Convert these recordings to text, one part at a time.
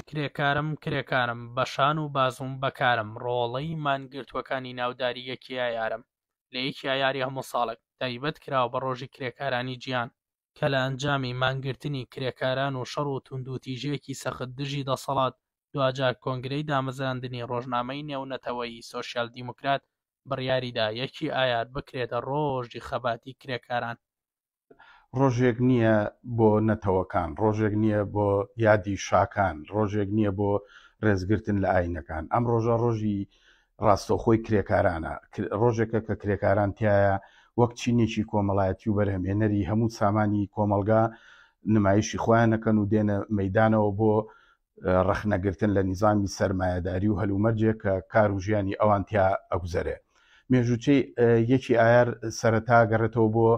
کرێکارم کرێکارم بە شان و بازووم بە کارم ڕۆڵەی مانگرتووەکانی ناوداری یەکی ئایارم لە یەکی ئایاری هەموو ساڵێک تایبەت کراوە بە ڕۆژی کرێکارانی جیهان کە لە ئەنجامی مانگرتنی کرێکاران و شەڕ و توندوتیژیەکی سەخت دژی دەسەڵات دواجار کۆنگرەی دامەزراندنی ڕۆژنامەی نێونەتەوەیی سۆسیال دیموکرات بڕیاریدا یەکی ئایار بکرێتە ڕۆژی خەباتی کرێکاران. ڕۆژێک نییە بۆ نەتەوەکان، ڕۆژێک نییە بۆ یادی شاکان، ڕۆژێک نییە بۆ ڕێزگرتن لە ئاینەکان. ئەم ڕۆژە ڕۆژی ڕاستەوخۆی کرێکارانە، ڕۆژێکە کە کرێکاران تایە وەک چینێکی کۆمەڵایەتی و بەرهەمێنەری هەموو سامانی کۆمەلگا نمایشی خۆیانەکەن و دێنە مەدانەوە بۆ ڕەخنەگرتن لە نیزامی سەرمایهداری و هەلومەرجێ کە کار و ژیانی ئەوان تیا ئەگوزەرێ مێژوچەی یەکی ئایار سەرەتا گەڕێتەوە بۆ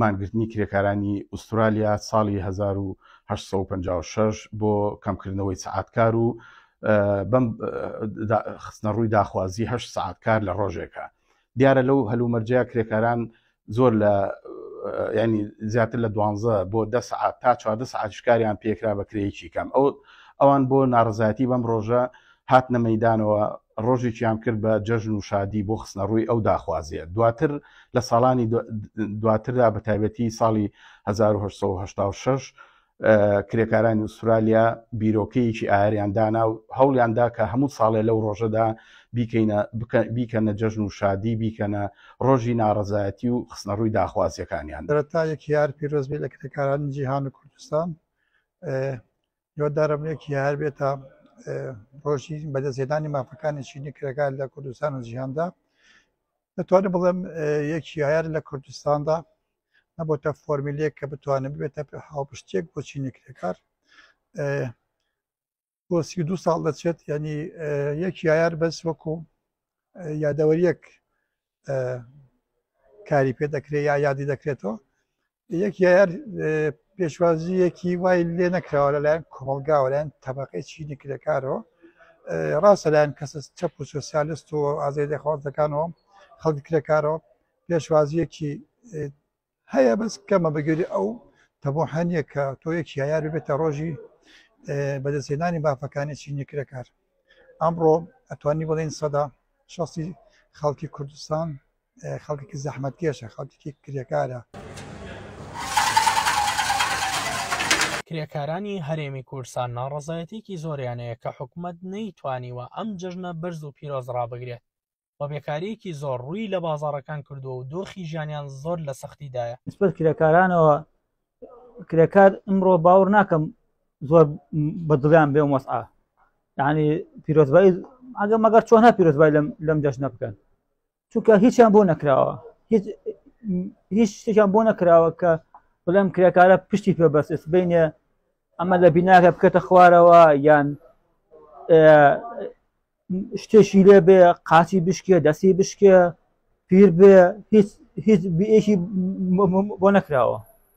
مانگرتنی کرێکارانی ئوسترالیا ساڵی 1956 بۆ کەمکردنەوەی سعاتکار و بەم خستنە ڕووی داخوازیه سعاتکار لە ڕۆژێکە دیارە لەو هەلومەرجەیە کرێکاران زۆر لە ینی زیاتر لە دوانزە بۆ دە سعات تا چواردە سعات شکاریان پێکرا بە کرێکی کەم ئەو ئەوان بۆ ناڕزایەتی بەم ڕۆژە هات نەمەدانەوە ڕۆژێکیان کرد بە جەژن و شادی بۆ خستنە ڕووی ئەو داخوازیە دواتر لە ساڵانی دواتردا بە تایبەتی ساڵی 1970 کرێکارانی ئوسترالیا بیرۆکەیەکی ئایریان دانا و هەوڵیاندا کە هەموو ساڵێ لەو ڕۆژەدا بیکەینە بیکەنە جەژن و شادی بیکەنە ڕۆژی ناڕزایەتی و خستنە ڕووی داخوازیەکانیان دەرەتا یەک یار پیرۆزبی لە کرێکارانی جیهان و کوردستان یۆدارم یەک یار بێتە ڕۆژی بەدەستێدانی مافەکانی چینی کرێکار لە کوردستان و جیهاندا دەتوانم بڵێم یەکیایەر لە کوردستاندا نەبتە فۆرمیلێک کە بتوانێت بێتە پێ هاوپشتێک بۆ چینی کرێکار بۆ سی دو ساڵ دەچێت ینی یەکیایەر بەس وەکو یادەوەریەک کاری پێ دەکرێت یا یادی دەکرێتەوە یەکیار پێشوازیەکی وای لێ نەکراوە لەلایەن کۆمەلگاوەلایەن تەبقی چینی کرێکارەوە ڕاستە لایەن کەسە چەپ و سوسیالست و ئازای دەخوازەکانەوە خەڵک کرێکارەوە پێشوازیەکی هەیە بەس کەمە بەگەری ئەو تەبۆحانە کە تۆ یەکی یار بێتە ڕۆژی بەدەستێنانی بافەکانی چینی کرێکار ئەمڕۆ ئەتوانی بڵین سەدا شخصی خەڵکی کوردستان خەڵکێکی زەحمەتکێشە، خەڵکێکی کرێکارە. کرێکارانی هەرێمی کوردستان ناڕەزایەتیەکی زۆریان هەیە کە حکومەت نەیتوانیوە ئەم جەژنە بەرز و پیرۆز ڕابگرێت و بێکاریەکی زۆر ڕووی لە بازاڕەکان کردووە و دۆخی ژیانیان زۆر لە سەختیدایە. نسبەت کرێکارانەوە کرێکار ئمڕۆ باوەڕ ناکەم زۆر بە دڵیان بێ وەسعا یعنی پیرۆزبایی ئەگە مەگەر چۆنە پیرۆزبای لەم جەژنە بکەن چونکە هیچیان بۆ نەکراوە هیچ شتێکیان بۆ نەکراوە کە بڵێم کرێکارە پشتی پێ بەسس بینێ ئەمە لە بیناکە بکەتە خوارەوە یان شتێکی لێ بێ قاچی بشکێ دەستی بشکێ پیر بێ هیچ هیچ بێکی بۆ نەکراوە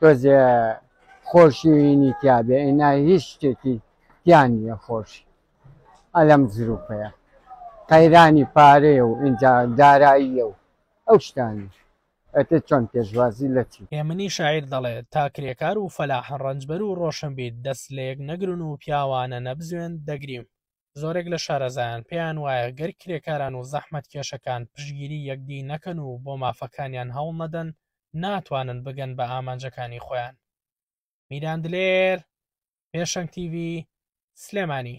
تۆزێ خۆشیی تیا بێ ئینا هیچ شتێکی تیا نیە خۆشی ئەلەم زروفەیا قەیرانی پارەیە و ئینجا داراییە و ئەو شتانە ئەتێ چۆن پێشوازی لە چی. هێمنی شاعیر دەڵێ، تا کرێکار و فەلاح ڕەنجبەر و ڕۆشنبیر دەست لەیەک نەگرن و پیاوانە نەبزوێن، دەگریم. زۆرێک لە شارەزایان پێیان وایە گەر کرێکاران و زەحمەتکێشەکان پشتگیری یەکدی نەکەن و بۆ مافەکانیان هەوڵنەدەن، ناتوانن بگەن بە ئامانجەکانی خۆیان. میران دلێر، پێشەنگ تیڤی، سلێمانی.